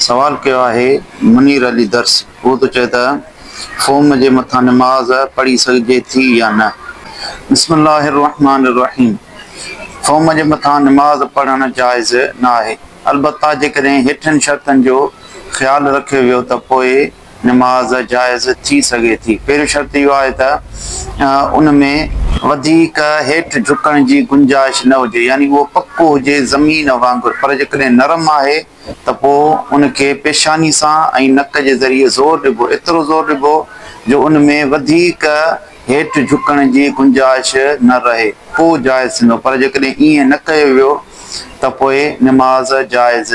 سوال ڪيو آهي منير علي درس هو ٿو چئي ته فوم جي مٿان نماز پڙهي سگهجي ٿي يا نه بسم الله الرحمٰن الرحيم فوم جي مٿان نماز پڙهڻ جائز نه آهي البته جيڪڏهن هيٺين شرطن جو خيال رکيو ويو ته پوء نماز جائز ٿي سگهي ٿي. پهريون شرط اهو آهي ته ان ۾ وڌيڪ هيٺ جهڪڻ جي گنجائش نه هجي يعني اهو پڪو هجي زمين وانگر پر جيڪڏهن نرم آهي ته پوء ان کي پيشاني سان ۽ نڪ جي ذريعي زور ڏبو ايترو زور ڏبو جو ان ۾ وڌيڪ هيٺ جهڪڻ جي گنجائش نه رهي پوء جائز ٿيندو پر جيڪڏهن ائين نه ڪيو ويو ته پوء نماز جائز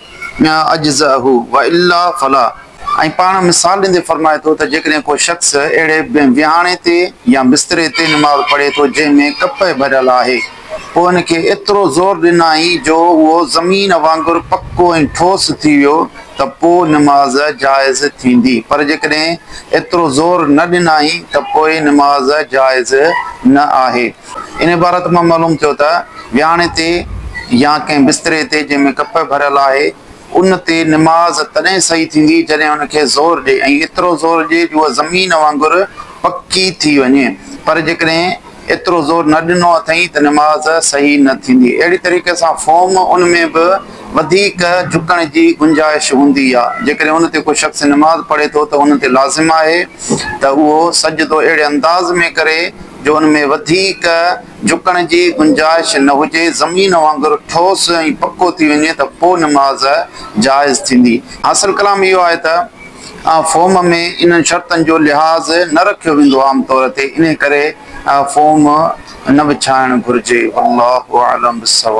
اجزئه والا فلا ۽ پاڻ مثال ڏيندي فرمائي ٿو ته جيڪڏهن ڪو شخص اهڙي ويهاڻي تي يا بستري تي نماز پڙهي ٿو جنهن ۾ ڪپهه ڀريل آهي پوء هن کي ايترو زور ڏنائين جو اهو زمين وانگر پڪو ۽ ٺوس ٿي ويو ته پوء نماز جائز ٿيندي پر جيڪڏهن ايترو زور نه ڏنائين ته پوء نماز جائز نه آهي. ان عبارت مان معلوم ٿيو ته وياڻي تي يا ڪنهن بستري تي جنهن ۾ ڪپهه ڀريل آهي، ان تي نماز تڏهن صحيح ٿيندي جڏهن ان کي زور ڏئي ۽ ايترو زور ڏئي جو اها زمين وانگر پڪي ٿي وڃي، پر جيڪڏهن ايترو زور نه ڏنو اٿئي ته نماز صحيح نه ٿيندي. اهڙي طريقي سان فوم ان ۾ به وڌيڪ جهڪڻ جي گنجائش هوندي آهي. جيڪڏهن ان تي ڪو شخص نماز پڙهي ٿو ته ان تي لازم آهي ته اهو سجدو اهڙي انداز ۾ ڪري، جو ان ۾ وڌيڪ جهڪڻ جي گنجائش نه هجي، زمين وانگر ٺوس ۽ پڪو ٿي وڃي ته پوء نماز جائز ٿيندي. حاصل ڪلام اهو آهي ته فهم ۾ انهن شرطن جو لحاظ نه رکيو ويندو عام طور تي، انهي ڪري فهم نه وڇائڻ گهرجي. والله اعلم بالصواب.